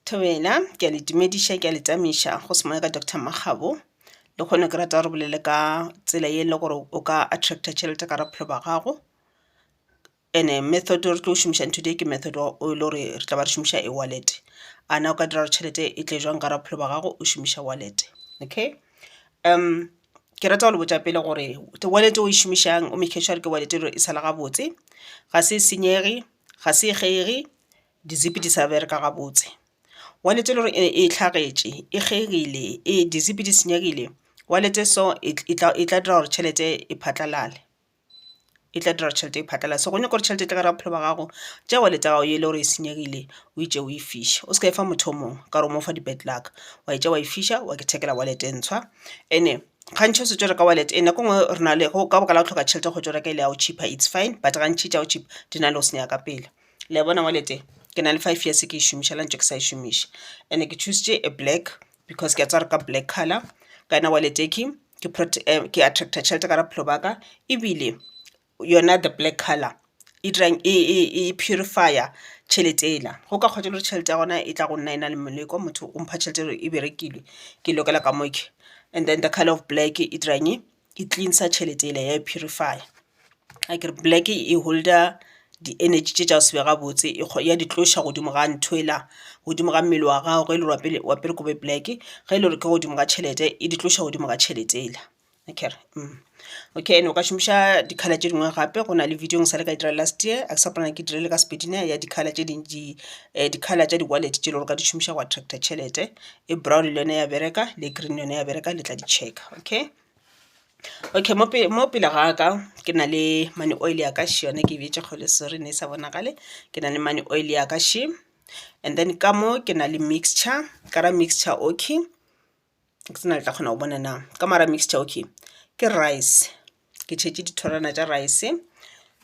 Thobela, ke a le dumediša, ke a le tamiša go se moya ka Doctor Makgabo. Le kgone ke rata gore bolele ka tsela ye le gore o ka attracta tšhelete ka raphelo ba gago. Ene method re tlo šomišang today ke method wa o le gore re tla ba re šomiša e wallet. A na o ka dira gore tšhelete e tle jwang ka raphelo ba gago o šomiša wallet, okay. Ke rata go le botša pele gore wallet o e šomišang o make sure ke wallet e sala gabotse, ga se senyege, ga se kgege di zip di sa bereka gabotse wallet e le gore e hlagetše e kgegile e di zip di senyegile wallet so e tla dira gore tšhelete e phatlalale, e tla dira gore tšhelete e phatlalale. So go nyaka gore tšhelete e tle gare ga bophelo ba gago tšea wallet ya gago e le gore e senyegile o e tšee o e fihle o se ka e fa motho o mongwe ka gore o mo fa di bad luck wa e tšea wa e fiša wa ithekela wallet e ntshwa and-e. gantši o se tšo reka wallet nako e ngwe re na le go ka baka la go hloka tšhelete go tšo reka e le ya go cheaper it's fine but gantši tša go cheaper di na le go senyega ka pela. Le ya bona wallet e ke na le five years ke e šomiša la ntše ke sa e šomiša and-e ke choose-tše e black because ke a tseba gore ka black colour ka yona wallet e ke ke attractor tšhelete ka gare ga bophelo ba ka ebile yona the black colour e dirang e purify-a tšhelete ela. Go ka kgwa gore tšhelete ya gona e tla go nna e na le moleko, motho o mpha tšhelete gore e berekile ke lokela ka mo ke. And then the colour of black e dirang e cleanser tšhelete ela ya e purify-a. Akere black e holder di energy tše tša go se be gabotse ya di tloša godimo ga ntho ela, godimo ga mmele wa gago ge e le gore o apere kobo e black ge e le gore ke godimo ga tšhelete e di tloša godimo ga tšhelete ela. akere okay ene o ka šomiša di-colour tše dingwe gape go na le video e sa le ka e dira last year a ke sa gopola gore ke e dirile ka sepedi ne ya di-colour tše dintši di-colour tša di-wallet tše e le gore o ka di šomiša go attractor tšhelete e brown le yone ya bereka le green yone ya bereka le tla di check okay. Okay mo pele mo pele ga ka ke na le money oil ya ka še yone ke e bjetša kgole sorry ne e sa bonagale ke na le money oil ya ka še and then ka mo ke na le mixture ka ra mixture okay ke tsena le tla kgona go bona na ka mara mixture okay ke rice ke tšhetše dithorwana tša rice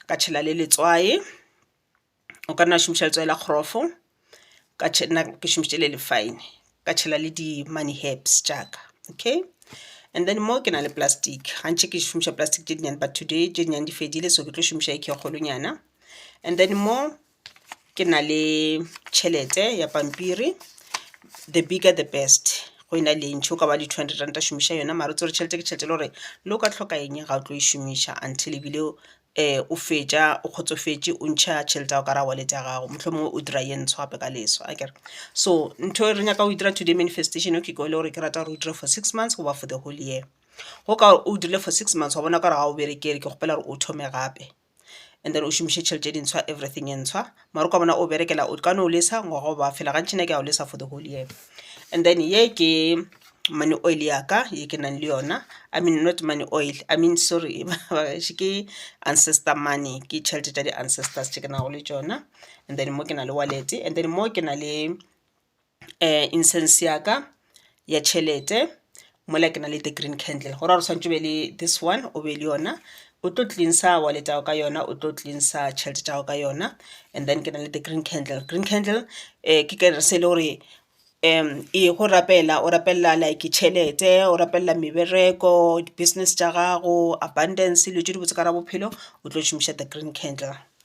ka tšhela le letswai o ka nna šomiša letswai la kgrofo ka nna ke šomišitše le le fine ka tšhela le di money herbs tša ka okay and then mo ke na le plastic gantši ke šomiša plastic tše dinnyane but today tše dinnyane di fedile so ke tlo šomiša e kgolonyana and then mo ke na le tšhelete ya pampiri the bigger the best go e na le ntšhi o ka ba le two hundred ranta šomiša yona mara o tsebe gore tšhelete ke tšhelete e le gore le o ka tlhoka eng ga o tlo e šomiša until ebile o fetša o kgotsofetše o ntšha tšhelete ya go ka ra wallet ya gago mohlomongwe o dira ye ntsho gape ka leso akere. So ntho e re nyaka go e dira today manifestation e le gore ke rata gore o dire for six months goba for the whole year go ka gore o dirile for six months wa bona o ka re ga o bereke e re ke kgopela gore o thome gape. and then o šomiše tšhelete e dintshwa everything e ntshwa mara o ka bona o berekela o ka no o lesa ngwaga o ba fela gantši ne ke ya o lesa for the whole year and then ye ke money oil ya ka ye ke nang le yona i mean not money oil i mean sorry bagaešo ke ancestor money ke tšhelete tša di-ancestors tše ke nago le tšona and then mo ke na le wallet and then mo ke na le incense ya ka ya tšhelete mola ke na le the green candle go ra gore tshwanetse o be le this one o be le yona o tlo cleanser wallet ya gago ka yona o tlo cleanser tšhelete tša gago ka yona and then ke na le the green candle. Green candle ke kerese se e le gore e go rapela o rapelela like tšhelete o rapelela mebereko di-business tša gago abundance dilo tše dibotse ka gare ga bophelo o tlo šomiša the green candle.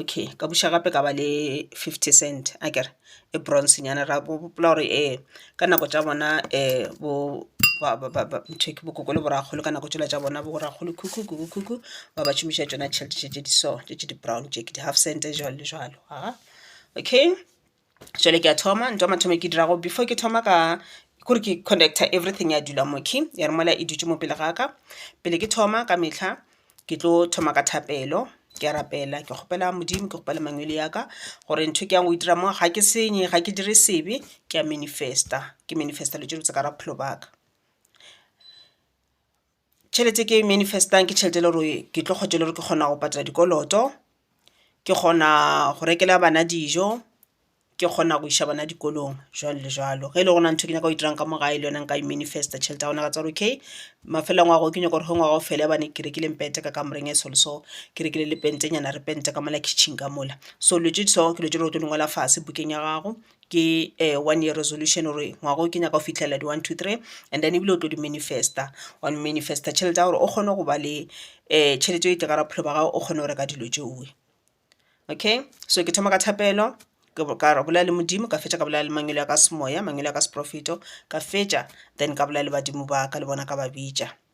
okay ka buša gape ka ba le fifty cent akere e bronze nyana ra gopola gore um ka nako tša bona um nthoke bo koko le bo rakgolo ka nako tšela tša bona bo rakgolo khukhukhu khukhukhu khukhukhu ba ba šomiša tšona tšhelete tše tše di so tše tše di brown tše ke di half cent jwalo le jwalo a okay. jale ke a thoma ntwa mathomo ke dirago before ke thoma ka kore ke connecta everything ya dula mo key ya re mola e dutse mo pele ga ka pele ke thoma ka metlha ke tlo thoma ka thapelo ke a rapela ke kgopela modimo ke kgopela mangwele ya ka gore ntho ke yang go itira mo ga ke senye ga ke dire sebe ke a manifesta ke manifesta lo tse dibotse ka ra bophelo baka Tšhelete e ke e manifest-ang ke tšhelete e le gore ke tlo kgotša e le gore ke kgona go patela dikoloto, ke kgona go rekela bana dijo, ke kgona go iša bana dikolong jwalo le jwalo. Ge e le gore go na le ntho e ke nyaka go e dirang ka mo gae le yona nka e manifest-a tšhelete ya gona ka tswalo okay mafelelong a ngwaga o ke nyaka gore ge ngwaga o fela gobane ke rekile mpete ka kamoreng e so le so, ke rekile le pentenyana re pente ka mola kitchen ka mola. So dilo tše di so ke dilo tše e le gore o tlo di ngwala fase bukeng ya gago ke one year resolution gore ngwaga o ke nyaka go fitlhelela di one two three and then ebile o tlo di manifester wa manifester tšhelete ya gore o kgone go ba le um tšhelete e tle ka bophelo ba gago o kgone go reka dilo tšeoe. Okay so ke thoma ka thapelo ka bolela le Modimo ka fetša ka bolela le mangwele a ka semoya mangwele a ka seporofeto ka fetša then ka bolela le badimo ba ka le bona ka ba bitša.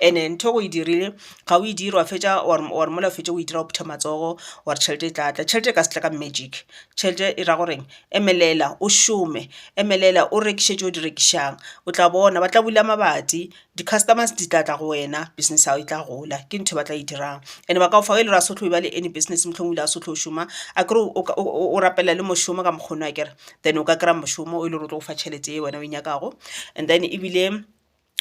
ene ntho o e dirile ga o e dire wa fetša wa re mola o fetše o e dira o phutha matsogo wa re tšhelete e tla tla tšhelete e ka se tla ka magic tšhelete e ra goreng emelela o šome emelela o rekiše tše o di rekišang o tla bona ba tla bula mabati di customers di tla tla go wena business ya gago e tla gola ke ntho e ba tla e dirang ene ba ka o fa e le gore a se o tlo e ba le any business mohlomong o ile a se o tlo šoma a kere o rapela le mošomo ka mokgona akere then o ka kry-a mošomo o e le gore o tlo go fa tšhelete e wena o e nyakago and then ebile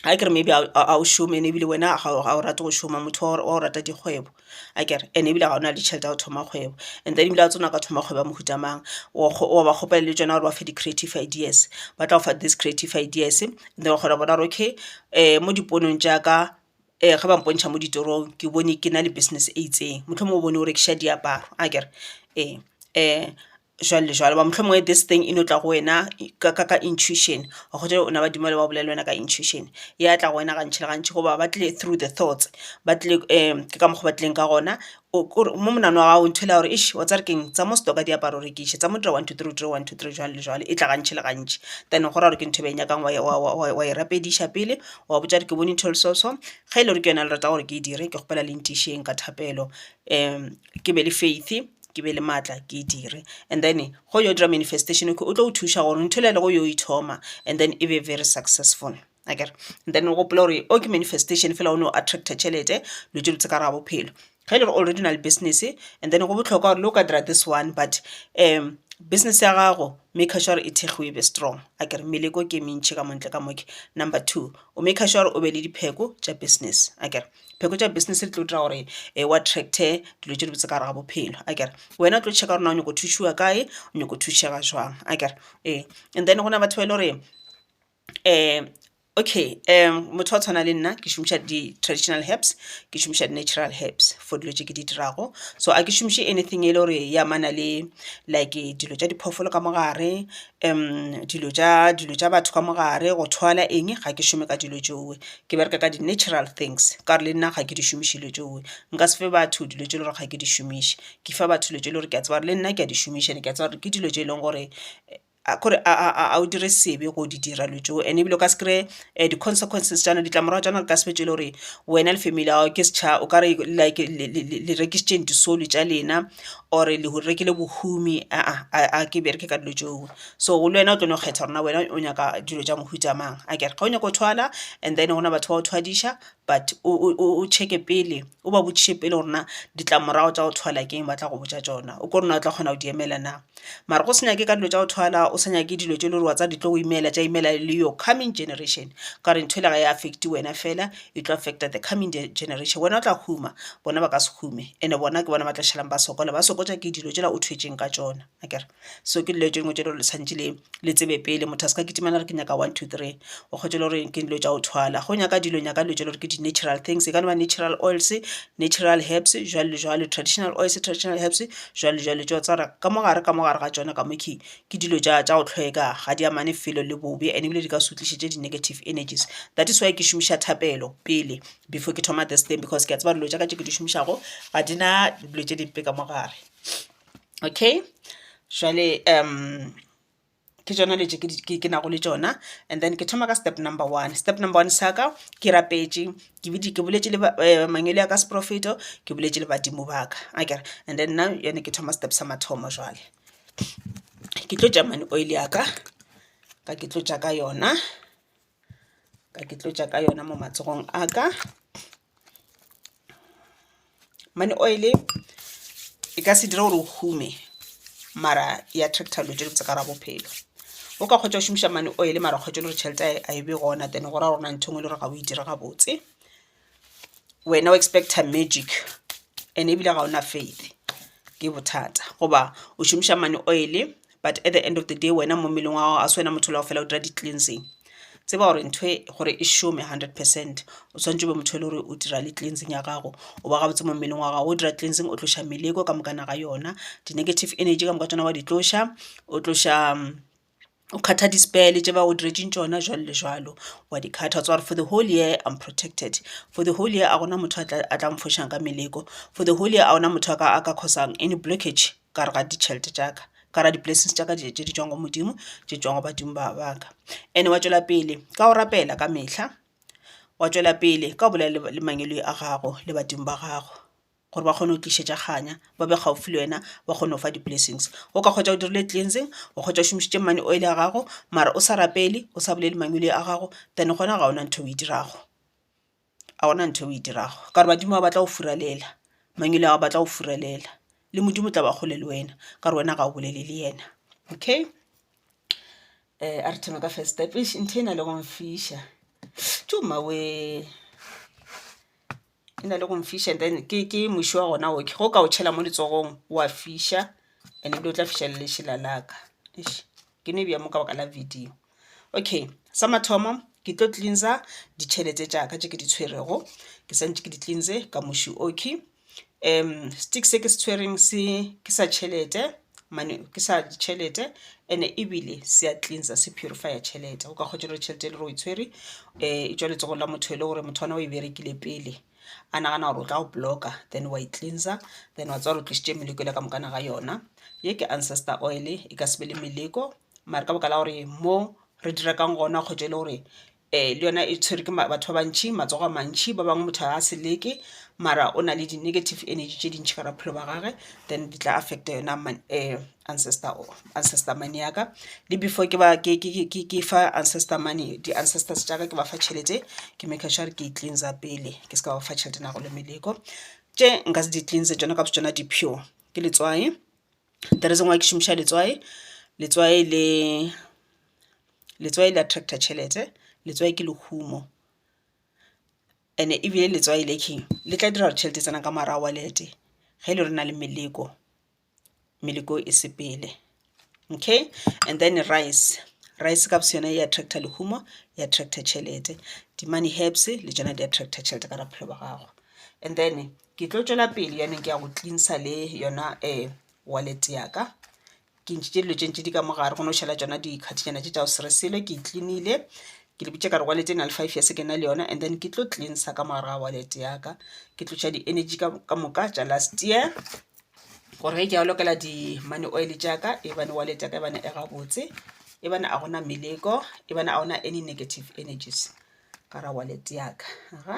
akere maybe ga o šome ene ebile wena ga o rate go šoma motho wa go rata dikgwebo akere and ebile ga o na le tšhelete ya go thoma kgwebo and then ebile ga o tsena o ka thoma kgwebo ya mohuta mang wa ba kgopela le tšona gore ba fe di-creative ideas ba tla go fa these creative ideas and then wa kgona go bona gore okay um mo diponong tša ka um ge ba mpontšha mo ditorong ke bone ke na le business e itseng mohlomongwe o bone o rekiša diaparo akere ee um jwalo le jwalo. Hoba mohlomongwe this thing e no tla go wena ka ka ka intuition gote o na badimo bale ba o bolella yona ka intuition ya tla go wena gantši le gantši goba ba tlile through the thoughts ba tlile ke ka mokgo ba tlileng ka gona o kore mo monagano wa gago o ithwela gore eish wa tseba re keng tsa mo store ka diaparo o rekiše tsa mo dira one two three o dire one two three jwalo le jwalo e tla gantši le gantši. Then go ra gore ke ntho e ba e nyakang wa e wa wa wa wa e rapediša pele wa botša gore ke bone ntho e le so so ge ele gore ke yona le rata gore ke e dire ke kgopela le ntišeng ka thapelo ke be le faith ke be le maatla ke e dire and then go yo dira manifestation okay o tlo go thuša gore ntho e le ya lego yo e thoma and then e be very successful akere. And then o gopole gore o ke manifestation fela o no attractor tšhelete dilo tše botse ka gare ga bophelo, ge e le gore already o na le business and then go bohlokwa gore le o ka dira this one but business ya gago maker sure e thegiwe e be strong akere meleko ke e mentši ka mo ntle ka mo ke. Number two o maker sure gore o be le dipheko tša business akere. pheko tša business di tlo dira gore e wa tracte dilo tše dibotse ka gare ga bophelo a kere wena o tlo checka gore na o nyako thušiwa kae o nyako thušega jwang a kere ee and then go na batho ba e le gore um okay um motho wa tshwana le nna ke šomiša di-traditional herbs ke šomiša di-natural herbs for dilo tše ke di dirago so a ke šomiše anything e le gore ya mana le like dilo tša diphoofolo ka mogare um dilo tša dilo tša batho ka mogare go thwala eng ga ke šome ka dilo tšeo ke bereka ka di natural things ka gore le nna ga ke di šomiše dilo tšeo. Nka se fe batho dilo tše e le gore ga ke di šomiše, ke fa batho dilo tše e le gore ke a tseba gore le nna ke a di šomiša and-e ke a tseba gore ke dilo tše e leng gore kore ga o dire sebe go di dira dilo tšeo. And-e ebile o ka se kry-e di consequences tša yona, ditlamorago tša yona di ka se be tše e le gore wena le family ya gago ke o ka re like le rekisitše disolo tša lena or-e le rekile bohumi aa ga ke bereke ka dilo tšeo. So le wena o tlo no kgetha gore na wena o nyaka dilo tša mohuta mang akere ga o nyaka go thwala and then gona batho ba go thwadiša but o checke pele o ba botšiše pele gore na ditlamorago tša go thwala ke eng ba tla go botša tšona o kore na o tla kgona go di emela na. Mara go se nyake ka dilo tša go thwala o sa nyake dilo tše e le gore wa tseba di tlo go imela tša imela le your coming generation ka gore ntho e le ga e affect wena fela e tlo affect-a the coming generation wena o tla huma bona ba ka se hume and-e bona ke bona ba tla šalang ba sokola ba sokotšwa ke dilo tšela o thwetšeng ka tšona. akere so ke dilo tše dingwe tše le gore le tshwantšhe le le tsebe pele motho a se ka kitimela a re ke nyaka one two three o kgwetše e le gore ke dilo tša go thwala go nyaka dilo nyaka dilo tše le gore ke di-natural things e ka no ba natural oils natural herbs jwalo le jwalo traditional oils traditional herbs jwalo le jwalo tšeo tsa gore ka mo gare ka mo gare ga tšona ka mo ke ke dilo tša tša go tlhweka ga di amane felo le bobe and ebile di ka se go tlišetše di-negative energies that is why ke šomiša thapelo pele before ke thoma this thing because ke a tseba dilo tša ka tše ke di šomišago ga di na dilo tše dimpe ka mo gare. okay jwale um ke tšona dilo tše ke nago le tšona and then ke thoma ka step number one step number one sa ka ke rapetše ke boletše le eh, mangwele ya ka seprofeto ke boletše le badimo ba ka akere and then now yone ke thoma step sa mathomo jwale ke tlo tša mane oil ya ka ka ke tlo tša ka yona ka ke tlotša ka yona mo matsogong a ka mane oil e ka se dira gore o hume mara ya attracta dilo tse dibotse ka ra bophelo o ka kgotsa o šomiša mane oil mara kgotsa le gore tšhelete a e be gona then go ra gorena ntho ngwe le gore ga o e dire gabotse wena o expecta magic and ebile ga ona faith ke bothata goba o šomiša mane oil but at the end of the day wena mo mmeleng wa gago a se wena motho le go fela o dira di-cleansing tseba gore ntho e gore e šome hundred percent o tshwanetse o be motho e le gore o dira le cleansing ya gago o ba gabotse mo mmeleng wa gago o dira cleansing o tloša meleko ka mokana ga yona di-negative energy ka moka tsona wa di tloša o tloša o kgatha di spare le tše ba go diretšeng tšona jwalo le jwalo wa di kgatha wa tseba gore for the whole year I'm protected for the whole year a gona motho a tla mphošang ka meleko for the whole year a gona motho a ka a ka cause-ang any blockage ka gare ga ditšhelete tša ka ka gare ga di-blessings tša ka tše di tšwago go Modimo tše tšwago go badimo ba ba ka and-e wa tšwela pele ka go rapela ka mehla wa tšwela pele ka go bolela le mangwele a gago le badimo ba gago. gore ba kgone go tlišetša kganya ba be kgaufsi le wena ba kgone go fa di-blessings. O ka hwetša o dirile cleansing, o hwetša o šomišitše money oil ya gago mara o sa rapele, o sa bolele mangwele a gago then gona ga gona ntho e o e dirago, ga gona ntho e o e dirago ka gore badimo ba batla go furalela, mangwele a gago a batla go furalela le Modimo o tla ba kgole le wena ka gore wena ga o bolele le yena. Okay, a re thome ka first step. Eish ntho e na le go mfiša tjo mmawee. e na le go mfiša then ke ke moši wa gona o ke go ka o tšhela mo letsogong wa fiša and ebile o tla fiša le lešela la ka eish ke no e beya mo ka baka la video. Okay sa mathomo ke tlo cleanser ditšhelete tša ka tše ke di tshwerego ke sa ntše ke di cleanse ka moši o ke sticks se ke se tshwereng se ke sa tšhelete. mane ke sa ditšhelete ene ebile se a cleansa se purifier tšhelete o ka kgotsa gore tšhelete e le gore o e tshwere um e tswa letsogong la motho e le gore motho ona o e berekile pele a nagana gore o tla go blocka then wa e cleansa then wa tswa gore o tlisitše meleko ele ka mokana ga yona ye ke ancestor oil e ka se be le meleko mare ka baka la gore mo re dirakang gona kgotsa e le gore Ee, le yona e tshwerwe ke batho ba bantši, matsogo a mantši. Ba bangwe motho a se leke mara o na le di-negative energy tše dintšhi ka bophelo ba gage, then di tla affecta yona ancestor or ancestor money ya ka. Le before ke ba ke fa ancestor money, di-ancestors tša ka ke ba fa tšhelete ke maker sure gore ke e cleanser pele ke se ka ba fa tšhelete nago le meleko. Tše nka se di cleanse tšona ka bo tšona di-pure ke letswai, The reason why ke šomiša letswai, letswai le letswai le attractor tšhelete, letswai ke lehumo and ebile letswai le king le tla dira gore tšhelete e tsena ka mo gare ga wallet ge e le gore o na le meleko, meleko e sepele okay. And then rice, rice ka bo seyona e attractor lehumo e attractor tšhelete, di-money herbs le tšona di attractor tšhelete ka gare ga bophelo ba gago and then. Ke tlo tšwela pele yanong ke ya go cleansa le yona wallet ya ka ke ntšhitše dilo tše ntši di ka mo gare go no šala tšona dikgathišana tše tša go se re selo ke e clean-ile ke le bitša ka re wallet e na le five years ke na le yona and then ke tlo cleansa ka mogare ga wallet ya ka ke tloša di energy ka moka tša last year gore ge ke ya lokela di money oil tša ka e bane wallet ya ka e bane e gabotse e bane a gona meleko e bane a gona any negative energies ka ra wallet ya ka ga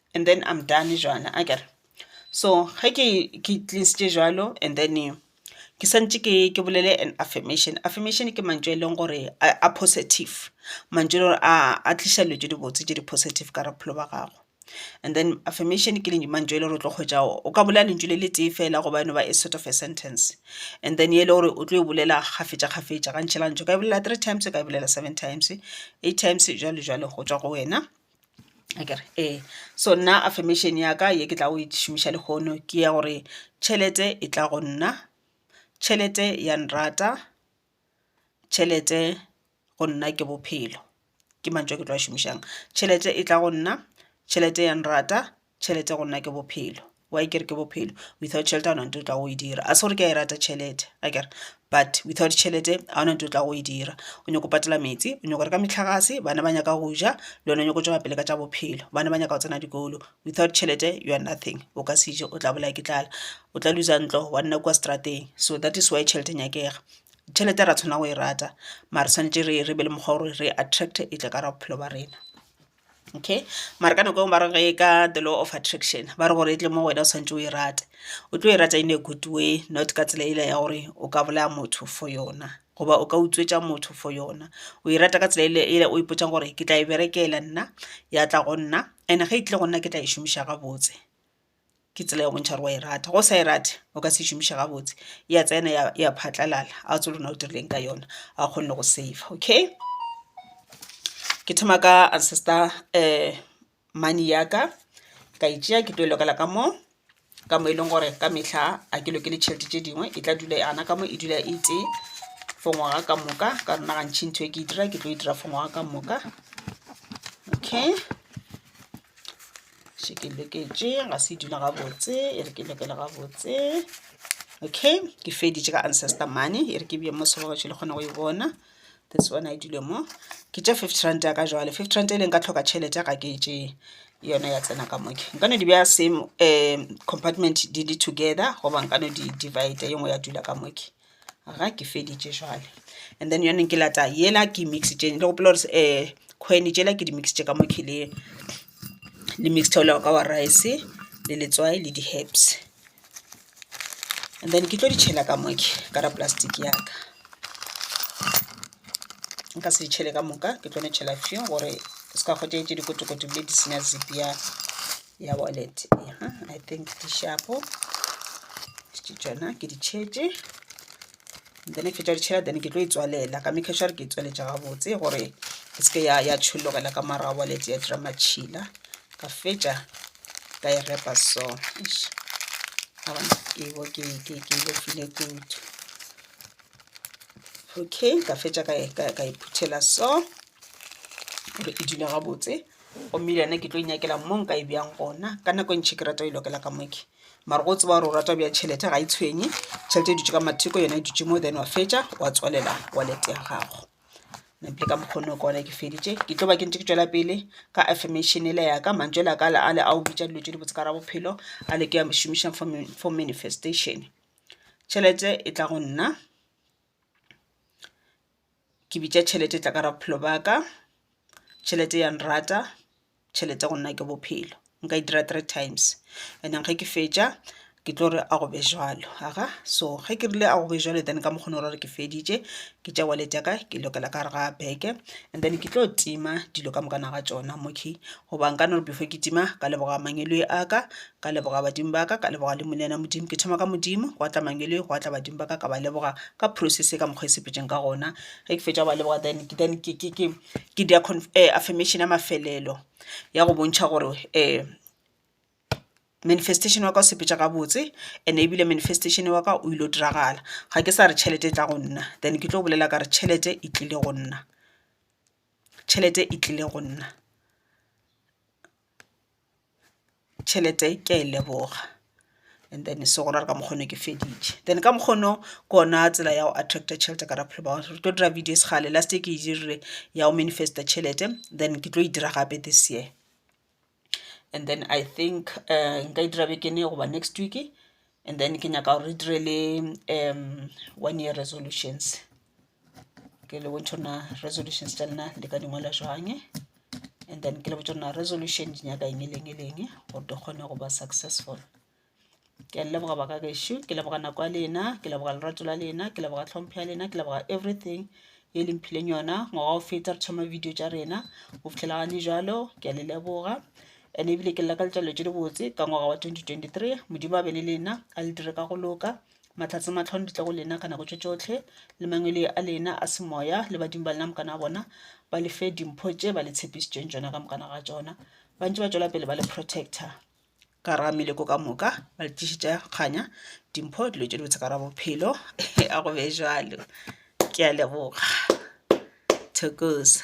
and then I'm done jwana akere. So ge ke ke cleansitše jwalo and then ke swantše ke ke bolele an affirmation. Affirmation ke mantšu a e leng gore a positive, mantšu a e leng gore a tliša dilo tše dibotse tše di positive ka gare ga bophelo bja gago. And then affirmation ke mantšu a e leng gore o tlo hwetša o ka bolela lentšu le le tee fela go ba no ba a sort of a sentence and then e le gore o tlo e bolela kgafetša kgafetša gantši gantši o ka e bolela three times, o ka e bolela seven times, eight times jwalo jwalo go tšwa go wena. akere ee so nna affirmation ya ka ye ke tlago e šomiša lehono ke ya gore tšhelete e tla go nna, tšhelete ya nrata, tšhelete go nna ke bophelo. Ke mantšu a ke tlo a šomišang, tšhelete e tla go nna, tšhelete ya nrata, Tšhelete go nna ke bophelo. Why ke re ke bophelo? Without tšhelete ga ona ntho e tlago e dira. Ga se gore ke a e rata tšhelete akere but without tšhelete ga ona ntho e tlago e dira. O nyaka go patela metsi, o nyaka go reka metlagase, bana ba nyaka go ja le wena o nyaka go tšwela pele ka tša bophelo. Bana ba nyaka go tsena dikolo. Without tšhelete you are nothing, o ka se je o tla bolaya ke tlala. O tla looser ntlo wa nna kua strateng. So that is why tšhelete e nyakega. Tšhelete ra tshwanela go e rata mare tshwanetse re be le mokgwa wa gore re attract-e e tle ka gare ga bophelo ba rena. okay mara ka nako engwe ba re ge ka the law of attraction ba re gore e tle mo wena o santse o e rate o tlo e rata in a good way not ka tsela ela ya gore o ka bolaya motho for yona goba o ka utswetša motho for yona o e rata ka tsela ele ela o ipotsang gore ke tla e berekela nna ya tla go nna and ge e tlile go nna ke tla e šomiša gabotse. ke tsela ya go bontšha gore wa e rata go sa e rate o ka se šomiša gabotse ya tsena ya ya phatlalala a o tsolo na o dirileng ka yona a o kgonne go save okay ke thoma ka ancestor um money ya ka ka e tšea ke tlo e lokela ka mo ka mo e leng gore ka mehla a ke lokele tšhelete tše dingwe e tla dula yana ka mo e dula e tee for ngwaga ka moka ka rona gantšhi ntho e ke e dira ke tlo e dira for ngwaga ka moka okay še ke loketše ga se dula gabotse e re ke lokele gabotse okay ke feditše ka ancestor money e re ke bje mo sebogetše le kgone go e bona this one a e dule mo ke tša fifty rand ya ka jwale fifty rand e leng ka tlhoka tšhelete ya ga ke tše yona ya tsena ka moke nka no di beya same um compartment di le together goba nka no di divide ye nngwe ya dula ka moke ga ke feditše jwale and then yone ke lata yela ke mixitše le gopela gore um eh, khweni tšela ke di mixitše ka mo khileng le mixed oil ka wa rice le letswai le di-herbs and then ke tlo di tšhela ka moke ka ra plastic yaka nka se di tšhele ka moka ke tlo ne tšhela few gore se ka kgotee tše dikotokoto bile di senya zip ya ya wallet ya i think di shapo ke tsona ke di tšhetše then ke tša ditšhela then ke tlo e tswalela ka make sure ke e tswaletša gabotse gore e seke ya ya tšhologela ka mara wallet ya dira matšhila ka fetša ka e repa so ke bo ke ke ke le file kudu okay ka fetša ka e phuthela so gore e dula gabotse gomme le yena ke tlo inyakela mo nka e bjang gona ka nako e ntšhi ke rata o ilokela ka moke mara go tseba gore o rata bja tšhelete ga e tshwenye tšhelete e dutse ka matheko yona e dutse mo then wa fetša wa tswalela wallet ya gago ntle ka mokgono ka one ke feditše ke tlo ba ke ntse ke tswela pele ka affirmation ele yaka mantswe la ka le a le a o bitša dilo tše di botse ka ra bophelo a le ke ya šomišang for manifestation tšhelete e tla go nna ke bitša tšhelete e tla ka ra bophelo ba ka, tšhelete ya nrata, tšhelete go nna ke bophelo. Nka e dira three times and then ge ke fetša ke tlo re a go be jwalo. Aga, so ge ke rile a go be jwalo then ka mokgona o ra gore ke feditše ke tša wallet ya ka ke lokela ka gare ga beke and then ke tlo tima dilo ka moka na ga tšona mo key goba nka no re before ke tima ka leboga mangwele a ka Ka leboga badimo ba ka, ka leboga le Molena Modimo. Ke thoma ka Modimo, gwa tla mangelo, gwa tla badimo ba ka, ka ba leboga ka process ye ka mokgwa e sepetšeng ka gona. Ge ke fetša go ba leboga then ke then ke ke ke ke dia affirmation ya mafelelo ya go bontšha gore manifestation wa ka o sepetša gabotse and ebile manifestation wa ka o ile go diragala. Ga ke sa re tšhelete e tla go nna then ke tlo bolela ka re tšhelete e tlile go nna, tšhelete e tlile go nna. tšhelete ke a e leboga and then se go ra ka mokgone ke feditše then ka mokgono ke ona tsela ya go attracta tšhelete ka bophelo ba gore tlo dira videos gale last e ke e dirile ya go manifesta tšhelete then ke tlo e dira gape this year and then i think nka e dira bekene goba next week and then ke nyaka gore re dire le um one year resolutions ke le bontšho na resolutions tša lena le ka dingwala jwang and then ke le botša na resolution di nyaka eng e leng e leng gore di kgone go ba successful ke a leboga baka gešo ke leboga nako ya lena ke leboga lerato la lena ke leboga tlhompho ya lena ke leboga everything ye le mphileng yona ngwaga o feta re thoma video tša rena go fitlhela gane jalo ke a le leboga Ene ebile ke lla ka letšalo tše dibotse ka ngwaga wa 2023 modimo a be le lena a le dire ka go loka mahlatse matlhono di tle go lena ka nako tše tšohle le mangwele a lena a semoya le badimo ba lena mokana wa bona ba le fe dimpho tše ba le tshepišitšeng tšona ka mokana ga tšona ba ntse ba tšwela pele ba le protector ka ra meleko ka moka ba le tlišitša kganya dimpho dilo tše dibotse ka ra bophelo a go be jalo ke a leboga thokoza